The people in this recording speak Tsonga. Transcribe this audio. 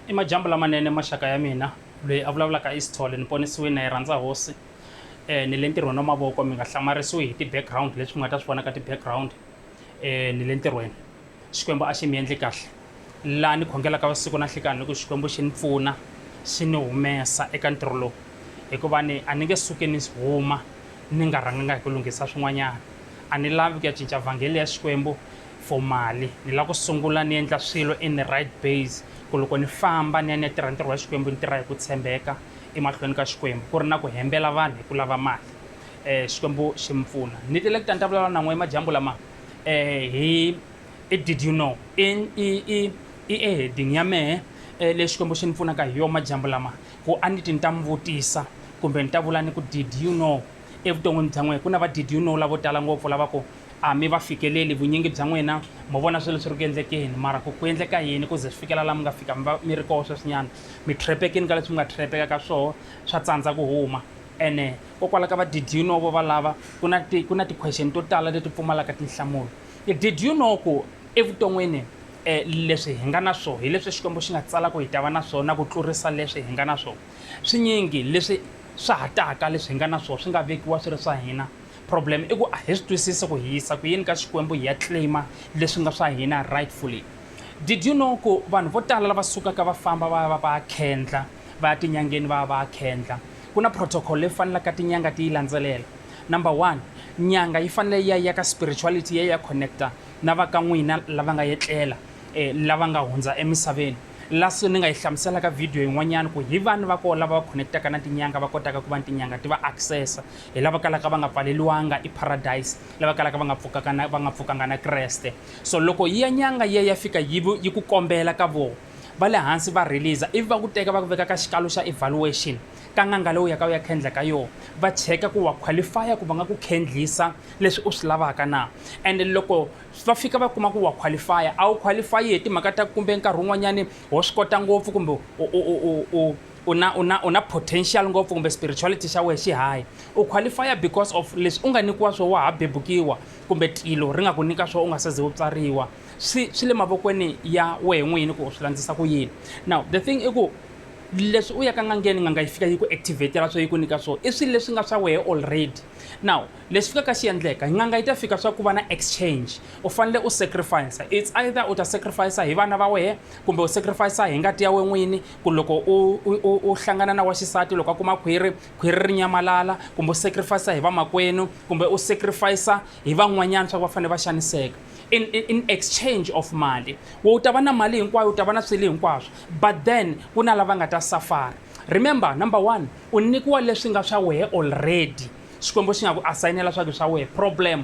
i majambu lamanene maxaka ya mina loyi a vulavulaka isithole ni ponisiwini na yi rhandza hosi um ni le ntirhweni wa mavoko mi nga hlamarisiwi hi ti-background leswi mi nga ta swi vona ka ti-background um ni le ntirhweni xikwembu a xi mi endli kahle laha ni khongelaka vusiku na nhlikani loko xikwembu xi ni pfuna xi ni humesa eka ntirho lowu hikuva ni a ni nge suki ni huma ni nga rhanganga hi ku lunghisa swin'wanyana a ni lavi ku ya cinca vhangeli ya xikwembu for mali ni lava ku sungula ni endla swilo in the right base ku loko ni famba ni ya ni ya tirha ntirho wa xikwembu ni tirha hi ku tshembeka emahlweni ka xikwembu ku ri na ku hembela vanhu hi ku lava mali um xikwembu xi mi pfuna ni tile ku ta ni ta vulavula na n'we emadyambu lama um hi i did you know i i i i eheding ya mehe um leyi xikwembu xi ni pfunaka hi yona madyambu lama ku a ni ti ni ta mi vutisa kumbe ni ta vula ni ku did you know evuton'wini bya n'wehe ku na va did you know lavo tala ngopfu lava ku A mi va fikeleli vunyingi bya n'wina, mo vona swilo swi ri ku endlekeni, mara ku ku endleka yini ku ze swi fikela laha mi nga fika mi va mi ri koho sweswinyana? Mi trhepekile ka leswi mi nga trhepeka ka swoho, swa tsandza ku huma. Ene kokwala ka va did you know vo valava, ku na ti, ku na ti question to tala leti pfumalaka tinhlamulo. Did you know ku evuton'wini leswi hi nga na swoho hi leswi Xikwembu xi nga tsala ku hi ta va na swoho na ku tlurisa leswi hi nga na swoho? Swinyingi leswi swa ha taka leswi hi nga na swoho swi nga vekiwa swi ri swa hina, Problem i ku a hi swi twisisi ku hi yisa ku yini ka Xikwembu hi ya claimer leswi nga swa hina rightfully. Did you know ku vanhu vo tala lava sukaka va famba va ya va va ya khendla, va ya tinyangeni va ya va ya khendla, ku na protocol leyi fanelaka tinyanga ti yi landzelela. Number one, nyanga yi fanele yi ya yi ya ka spirituality yi ya yi ya connect-a na va ka n'wina lava nga etlela lava nga hundza emisaveni. La so ni nga yi hlamusela ka video yin'wanyana ku hi vani va koho lava va connect-aka na tinyanga va kotaka ku va ni tinyanga ti va access-a Hi lava kalaka va nga pfaleliwanga epharadayisi, lava kalaka va nga pfukaka na va nga pfukanga na Kreste. So loko yi ya nyanga yi ya ya fika yi yi ku kombela ka voho va le hansi va release ivi va ku teka va ku veka ka xikalo xa evaluation ka n'anga leyi u yaka u ya khendla ka yona va cheka ku wa qualifya ku va nga ku khendlisa leswi u swi lavaka na and loko va fika va kuma ku wa qualifya a wu qualify hi timhaka ta kumbe nkarhi wun'wanyani ho swi kota ngopfu kumbe u u na u na u na potential ngopfu kumbe spirituality xa wehe xi high u qualifya because of leswi u nga nyikiwa swo wa ha bebukiwa kumbe tilo ri nga ku nyika swo u nga se ze u tswariwa swi swi le mavokweni ya wehe n'wini ku u swi landzisa ku yini now the thing i ku leswi u yaka ngangeni nganga yi fika yi ku activatela swo yi ku nyika swo i swilo leswi nga swa wehe already now leswi fikaka xi endleka nganga yi ta fika swa ku va na exchange u fanele u sacrifice it's either u ta sacrifice hi vana va wehe kumbe u sacrifice hi ngati ya we n'wini ku loko u, u, u, u hlangana na wa xisati loko a kuma khwiri khwiri ri nyamalala kumbe u sacrifice hi vamakwenu kumbe u sacrifice hi van'wanyana swa ku va fanele va xaniseka in, in, in exchange of mali wo u ta va na mali hinkwayo u ta va na swilo hinkwaswo but then ku na lava nga ta safara remember number one u nyikiwa leswi nga swa wehe already xikwembu xi nga ku asayinela swa ku swa wehe problem